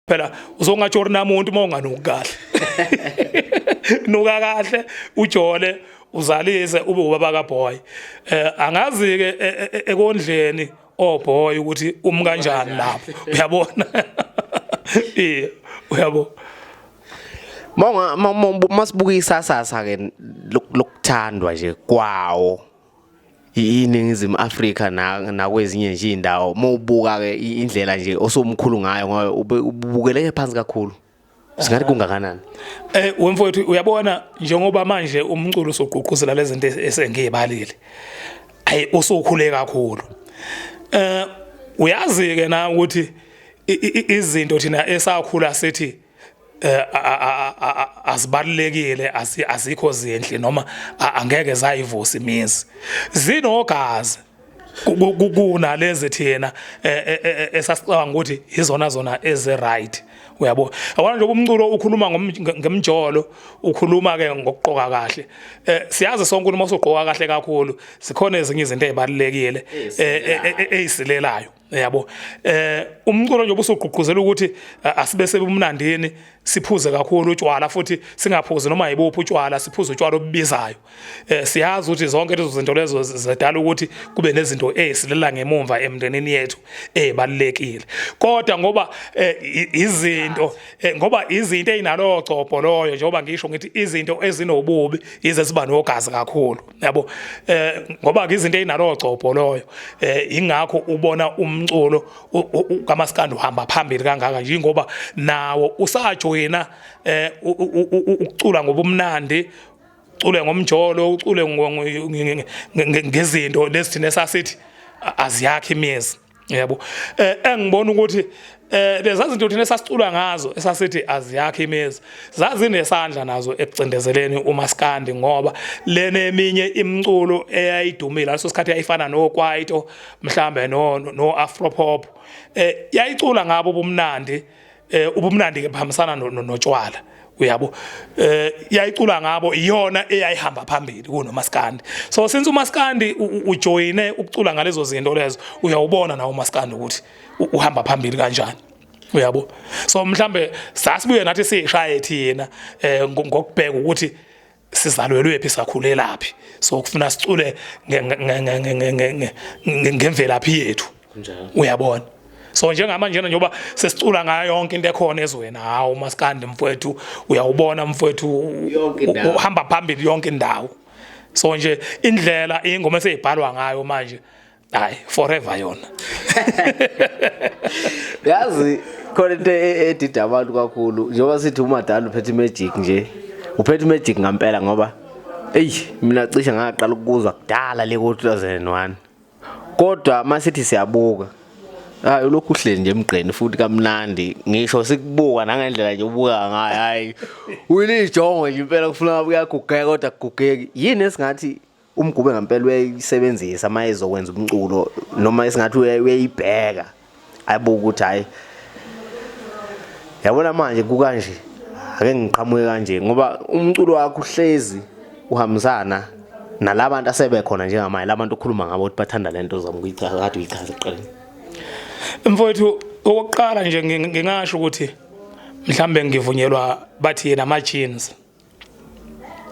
phela uzongatsho uri namuntu uma unganuki kahle nuka kahle ujole uzalise ube ubaba kaboy eh angazi ke e, e, e, ekondleni oh boy ukuthi umi kanjani lapho uyabona yeah uyabo Monga masibuka isasasa ke lokuthandwa nje kwawo iningizimu Afrika nakwezinye nje indawo mawubuka ke indlela nje osomkhulu ngayo ngoba ubukeleke phansi kakhulu singathi kungakanani eh wemfowethu uyabona njengoba manje umculo usugqugquzela lezinto esengiyibalile ayi usukhule kakhulu eh uyazi ke na ukuthi izinto thina esakhula sithi eh, azibalulekile azikho zinhle noma angeke zayivusa imizi zinogazi kunalezi thina e, e, e, esasicabanga ukuthi izona zona eze right uyabo awona nje umculo ukhuluma ngemjolo ukhuluma ke ngokuqoka kahle eh siyazi sonke ukuthi mawusuqoka kahle kakhulu sikhona ezinye izinto ezibalekile ezisilelayo yabo eh umculo nje obusugqugquzela ukuthi eh, asibe sebumnandini siphuze kakhulu utshwala futhi singaphuzi noma yibuphi utshwala siphuze utshwala obubizayo eh siyazi ukuthi zonke lezo zinto lezo zedala ukuthi kube nezinto esilela ngemumva emndenini yethu ezibalekile kodwa ngoba eh, izinto eh, ngoba izinto ezinalo gcobho loyo njengoba ngisho ngithi izinto ezinobubi ize siba nogazi kakhulu yabo eh ngoba ke izinto ezinalo gcobho loyo eh ingakho ubona umculo kamaskandi uhamba phambili kangaka yingoba nawo usajoyina eh ukucula ngobumnandi ucule ngomjolo ucule ngezinto lesithina sasithi aziyakhe imiyezi yebo eh engibona ukuthi eh leza zinto thina sasicula ngazo esasithi aziyakhe imezi zazinesandla nazo ekucindezeleni umaskandi ngoba lena eminye imculo eyayidumile leso sikhathi yayifana no kwaito mhlambe no no afropop eh yayicula ngabo ubumnandi eh ubumnandi ke bahambisana notshwala uyabo eh yayicula ngabo iyona eyayihamba phambili kunomaskandi so since umaskandi ujoyine ukucula ngalezo zinto lezo uyawubona nawo umaskandi ukuthi uhamba phambili kanjani uyabo so mhlambe sasibuye nathi sishaye thina eh ngokubheka ukuthi sizalwelwe phi sakhulelaphi so kufuna sicule ngemvelaphi yethu uyabona so njengama njena njengoba sesicula ngayo yonke into ekhona ezweni hawu maskandi mfowethu uyawubona mfowethu uhamba phambili yonke indawo so nje indlela ingoma eseyibhalwa ngayo manje hayi forever yona yazi khona into e- e- edida abantu kakhulu njengoba sithi umadala uphethe imagic nje uphethe imagic ngampela ngoba eyi mina cishe ngaqala ukuzwa kudala le ko-2001 kodwa uma sithi siyabuka hayi ulokhu uhleli nje emgqeni futhi kamnandi ngisho sikubuka nangendlela nje ubuka ngayo hhayi uyilijongo nje impela kufuneka kuyagugeka kodwa kugugeki yini esingathi umgube ngempela uyayisebenzisa uma ezokwenza umculo noma esingathi uyayibheka ayibuka ukuthi hhayi yabona manje kukanje ake ngiqhamuke kanje ngoba umculo wakho uhlezi uhambisana nalabantu asebekhona njengamanje labantu okhuluma ngabo ukuthi bathanda lento zami kuyichaza kade uyichaza eqeleni mfowethu okokuqala nje ngingasho ukuthi mhlambe ngivunyelwa bathi yena ama jeans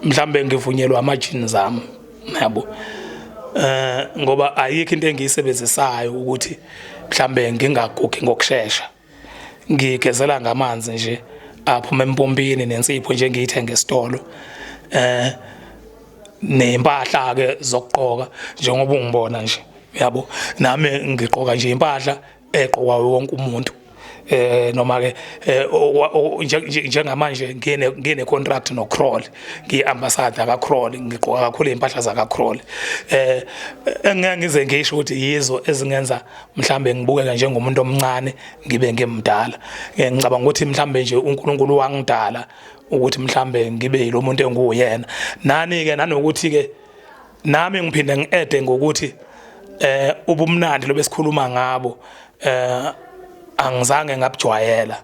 mhlambe ngivunyelwa amajini zami yabo eh ngoba ayikho into engiyisebenzisayo ukuthi mhlambe ngingagugi ngokusheshsha ngigezela ngamanzi nje aphuma empompini nensipho nje ngiyithenga esitolo eh nempahla ke zokugqoka njengoba ungibona nje yabo nami ngiqoka nje impahla eqokwa wonke umuntu eh noma ke eh, njengamanje ngine ngine contract no Kroll ngi ambassador ka Kroll ngigqoka kakhulu impahla za ka Kroll eh engeke ngize ngisho ukuthi yizo ezingenza mhlambe ngibukeke njengomuntu omncane ngibe ngimdala eh, ngicabanga ukuthi mhlambe nje uNkulunkulu wangidala ukuthi mhlambe ngibe yilomuntu enguyena nani ke nanokuthi ke nami ngiphinde ngiede ngokuthi eh ubumnandi lobesikhuluma ngabo eh angizange ngabujwayela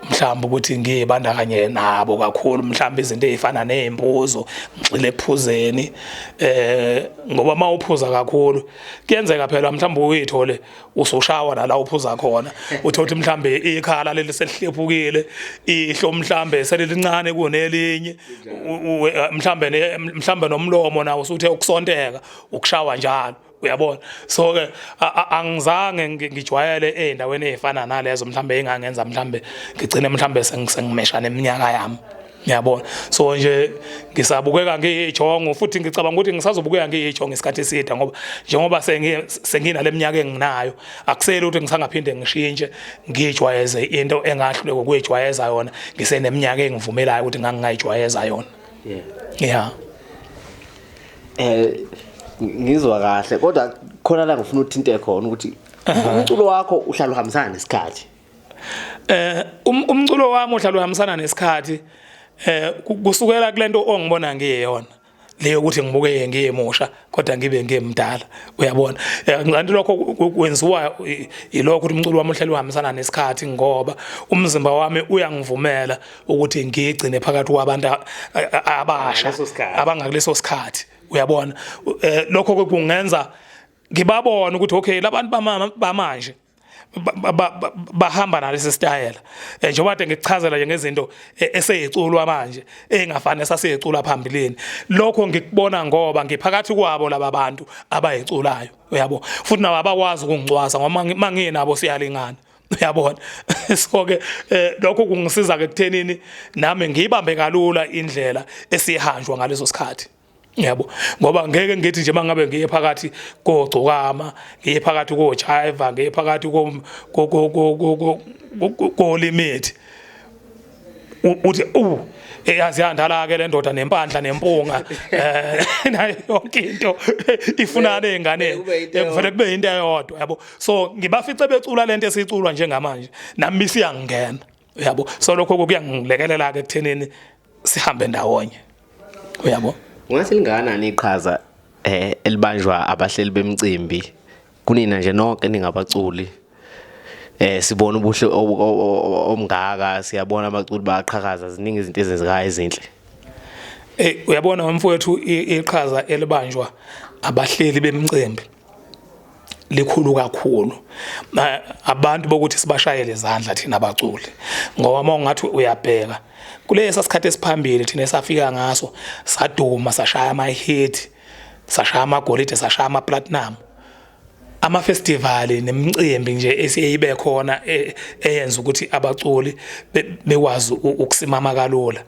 mhlawumbe ukuthi ngiyibandakanye nabo kakhulu mhlawumbe izinto ezifana nezimpuzo ngixile ekuphuzeni eh ngoba mawuphuza kakhulu kuyenzeka phela mhlawumbe uyithole usoshawa nala uphuza khona uthi uthi mhlambe ikhala leli selihlephukile ihlo mhlambe selilincane kunelinye mhlambe mhlambe nomlomo nawo usuthe ukusonteka ukushawa njalo uyabona so ke angizange ngijwayele ezindaweni ezifana nalezo mhlambe engangenza mhlambe ngigcine mhlambe sengimeshana eminyaka yami Ngiyabona. So nje ngisabukeka ngiyijongo futhi ngicabanga ukuthi ngisazobukeka ngiyijongo isikhathi eside ngoba njengoba sengina leminyaka enginayo akusele ukuthi ngisangaphinde ngishintshe ngijwayeze into engahlule kokuyijwayeza yona ngiseneminyaka engivumelayo ukuthi ngangingayijwayeza yona. Yeah. Yeah. Eh ngizwa kahle kodwa khona la ngifuna uthinte khona ukuthi umculo wakho uhlala uhambisana nesikhathi. eh um, umculo wami ohlalo uhambisana nesikhathi eh kusukela kulento ongibona ngiyeyona leyo ukuthi ngibuke ngiyemusha kodwa ngibe ngimdala uyabona eh, ngilanti lokho kwenziwa yilokho ukuthi umculo wami uhleli uhambisana nesikhathi ngoba umzimba wami uyangivumela ukuthi ngigcine phakathi kwabantu abasha abangakuleso sikhathi uyabona eh, lokho kungenza ngibabona ukuthi okay labantu bamama bamanje bahamba nalesi sitayela eh, njengoba kade ngikuchazela nje ngezinto eh, eseyiculwa manje engafani esasiyicula phambilini lokho ngikubona ngoba ngiphakathi kwabo laba bantu abayiculayo uyabo futhi nabo abakwazi ukungicwasa ngoba manginabo siyalingana uyabona so ke eh, lokho kungisiza ke kuthenini nami ngiyibambe kalula indlela esihanjwa ngaleso sikhathi yabo ngoba ngeke ngithi nje mangabe ngiye phakathi kogcokama ngiye phakathi kojiva ngiye phakathi ko ko limit uthi u eyazi yandala ke lendoda nempandla nempunga eh nayo yonke into ifunana ezingane ekuvele kube into eyodwa yabo so ngibafice becula lento esiculwa njengamanje nami siyangena uyabo so lokho kuyangilekelela ke ekuthenini sihambe ndawonye uyabo ungathi lingakanani iqhaza eh elibanjwa abahleli bemcimbi kunina nje nonke ningabaculi eh sibona ubuhle omngaka siyabona abaculi baqhakaza ziningi izinto ezenzekayo ezinhle eh uyabona mfowethu iqhaza elibanjwa abahleli bemcimbi likhulu kakhulu abantu bokuthi sibashayele izandla thina abaculi ngoba uma ungathi uyabheka kulesa sikhathi esiphambili thina esafika ngaso saduma sashaya ama-hit sashaya amagolide sashaya ama-platinum amafestivali nemicimbi nje esiyibe khona e, eyenza ukuthi abaculi bekwazi ukusimama kalula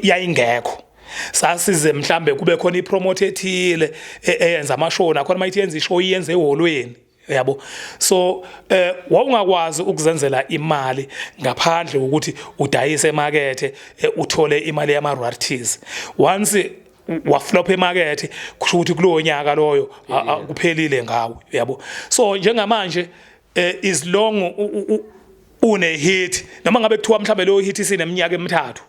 yayingekho sasize mhlambe kube khona ipromote ethile e, eyenza amashoni akhona mayithi yenza ishow iyenze eholweni yabo so eh wawungakwazi ukuzenzela imali ngaphandle ukuthi udayise emakethe eh, uthole imali yama royalties once waflop emakethe kusho ukuthi kulowo nyaka loyo kuphelile ngawe yabo so njengamanje eh, is long une hit noma ngabe kuthiwa mhlawumbe leyo hit isineminyaka emithathu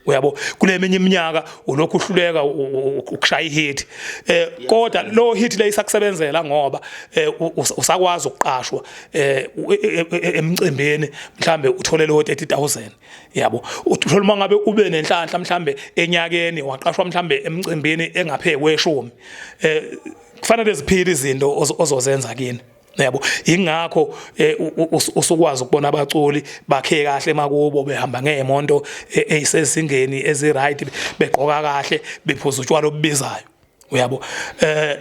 uyabo kule minye iminyaka ulokhu uhluleka ukushaya ihit eh kodwa lo hit le isakusebenzela ngoba eh, usakwazi ukuqashwa eh, e, e, e, emcimbini mhlambe uthole lo 30000 yabo uthola uma ngabe ube nenhlanhla mhlambe enyakeni waqashwa mhlambe emcimbini engaphezulu kweshumi eh kufanele ziphile izinto ozozenza kini yabo ingakho eh, usukwazi ukubona abaculi bakhe kahle emakubo behamba ngeemonto eh, eyisezingeni eziright begqoka kahle bephuza utshwala obubizayo uyabo eh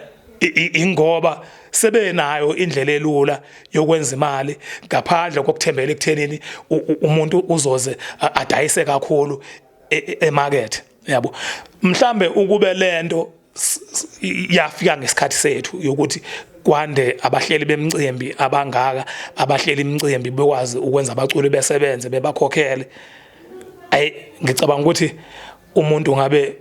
ingoba sebenayo indlela elula yokwenza imali ngaphandle kokuthembela ekuthenini umuntu uzoze adayise kakhulu e, e, emarket yabo mhlambe ukube lento yafika ngesikhathi sethu yokuthi kwande abahleli bemcimbi abangaka abahleli imcimbi bekwazi ukwenza abaculi besebenze bebakhokhele ay ngicabanga ukuthi umuntu ngabe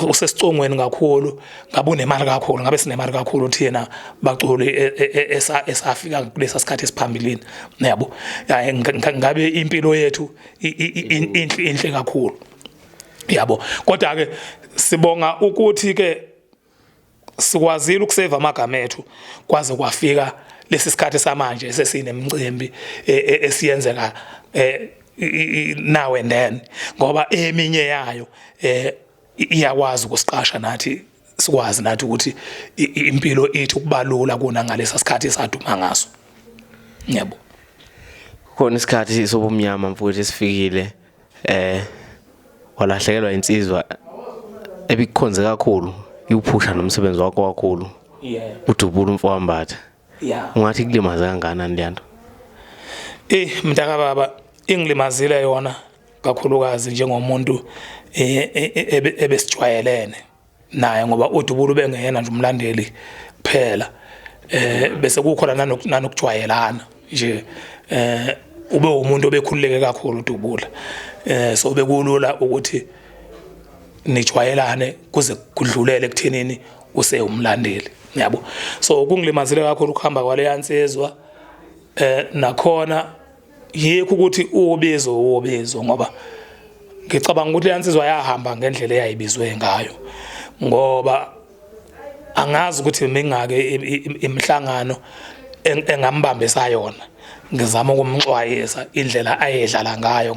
usesicongweni kakhulu ngabe unemali kakhulu ngabe sinemali kakhulu thina baculi e, e, e, esafika kulesa sikhathi esiphambilini niyabo ngabe impilo yethu inhle inhle kakhulu yabo kodwa ke sibonga ukuthi ke sikwazile ukuseva amagama ethu kwaze kwafika lesi sikhathi samanje sesinemcimbi e, e, esiyenzeka e, now and then ngoba eminye yayo iyakwazi ukusiqasha nathi sikwazi nathi ukuthi impilo ethu kubalula kuna ngalesa sikhathi esaduma ngaso yebo khona isikhathi sobumnyama mfowethu esifikile eh walahlekelwa insizwa ebikukhonze kakhulu iwuphusha nomsebenzi wakho kakhulu yeah udubula umfowambatha yeah ungathi kulimaze kangakanani leyanto eh mntaka baba ingilimazile yona kakhulukazi njengomuntu eh, eh, eh, ebesijwayelene naye ngoba uDubula ubengeyena nje umlandeli kuphela eh bese kukhona nanokujwayelana nje eh ube umuntu obekhululeke kakhulu uDubula eh so bekulula ukuthi nijwayelane kuze kudlulele kuthenini usewumlandeli yabo so kungilimazile kakhulu ukuhamba kwaleya nsizwa eh nakhona yikho ukuthi uwobizo uwobizo ngoba ngicabanga ukuthi leyansizwa yahamba ngendlela eyayibizwe ngayo ngoba angazi ukuthi mingake imhlangano engambambisa yona ngizama ukumxwayisa indlela ayedlala ngayo